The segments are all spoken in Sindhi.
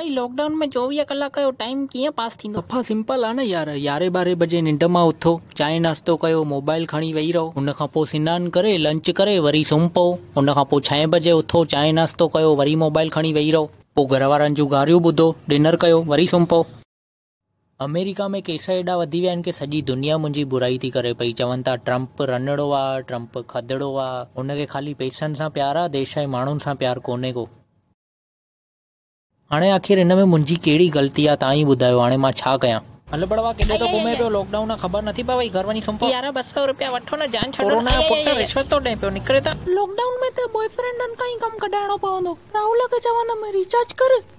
ڀائي لاڪ ڊائون ۾ چوويهه ڪلاڪ جو ٽائيم ڪيئن پاس ٿيندو. صفا سمپل آ نه يار يارهين ٻارهين بجي ننڊ مان اٿو چانهه ناشتو ڪيو موبائل کڻي ويهي رهو ان کان پوء سنان ڪري لنچ ڪري وري سمهه پئو ان کان پوء ڇهين بجي اٿو چانهه ناشتو ڪيو وري موبائل کڻي ويهي رهو پوء گهر وارن جون گاريون ٻڌو ڊنر ڪيو وري سمهه پئو. آمريڪا ۾ ڪيس ايڏا وڌي ويا آهن ڪي سڄي دنيا منهنجي برائي ٿي ڪري پئي چون ٿا ٽرمپ رنڙو آ ٽرمپ کدڙو آ هن کي خالي پئسن سان پيار آ ديش ۽ ماڻهن سان پيار ڪونهي ڪو. هاڻي آخر هن ۾ منهنجي ڪهڙي غلطي آ توهان ئي ٻڌايو هاڻي مان ڇا ڪيان. هل بڙوا ڪيڏي ٿو گهمين پيو لاڪ ڊائون آ خبر نٿي پوي گهر وڃي سم پو. يارا ٻه سئو روپيا وٺو نه جان ڇڏو نه ڪورونا جو پٽ رشوت ٿو ڏئي پيو نڪري ٿا. لاڪ ڊائون ۾ ته بوائي فرينڊن کان ئي ڪم ڪڍائڻو پوندو راهول کي چوندم ريچارج ڪر.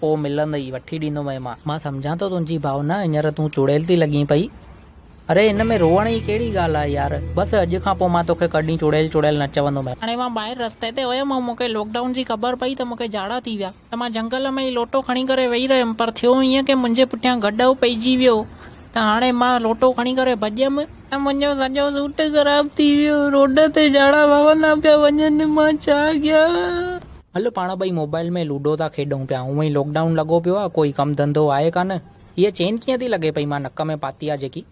پوء ملندئي، وٺي ڏيندومئي مان. مان سمجهان ٿو تنهنجي ڀاونا، هينئر تون چڙيل ٿي لڳين پئي. اڙي ان ۾ روئڻ جي ڪهڙي ڳالهه آهي يار. بس اڄ کان پوء مان توکي ڪڏهن چڙيل چڙيل نه چوندومئي. هاڻي مان ٻاهر رستي تي هيم ۽ مون کي لاڪ ڊائون جي خبر پئي ته مون کي جاڙا ٿي ويا ته مان جهنگل ۾ ئي لوٽو کڻي ڪري ويهي رهيم پر ٿيو ائين ڪي منهنجي پٺيان گڏهه پئجي ويو ته هاڻي مان لوٽو کڻي ڪري ڀڄيم ته منهنجو سڄو سوٽ خراب ٿي ويو روڊ تي جاڙا وهندا پيا وڃن مان ڇا ڪيان. هل پاڻ ٻئي موبائل ۾ لوڊو ٿا کيڏون پيا، هونئن ئي لاڪ ڊائون لڳو پيو آ، ڪوئي ڪم ڌنڌو آهي ڪانه. هيء چين ڪيئن ٿي لڳي پئي مان نڪ ۾ پاتي آ جيڪي.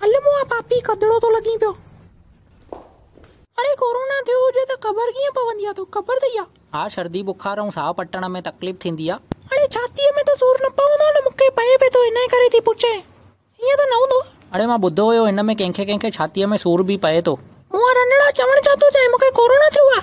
هل مون آ پاپي کدڙو ٿو لڳين پيو. اڙي ڪورونا ٿيو هجي ته خبر ڪيئن پوندي آ توکي خبر اٿئي آ. ها شردي بخار ۽ ساهه پٽڻ ۾ تڪليف ٿيندي آ. اڙي ڇاتيء ۾ ته سور نه پوندو آ نه مون کي پئي پئي ٿو انهيء ڪري ٿي پڇين. ائين ته نه هوندو. اڙي مان ٻڌو هيو هن ۾ ڪنهن کي ڪنهن کي ڇاتيء ۾ سور به پئي ٿو. مون رنڙا چوڻ ڇا ٿو چاهين مون کي ڪورونا ٿيو آهي.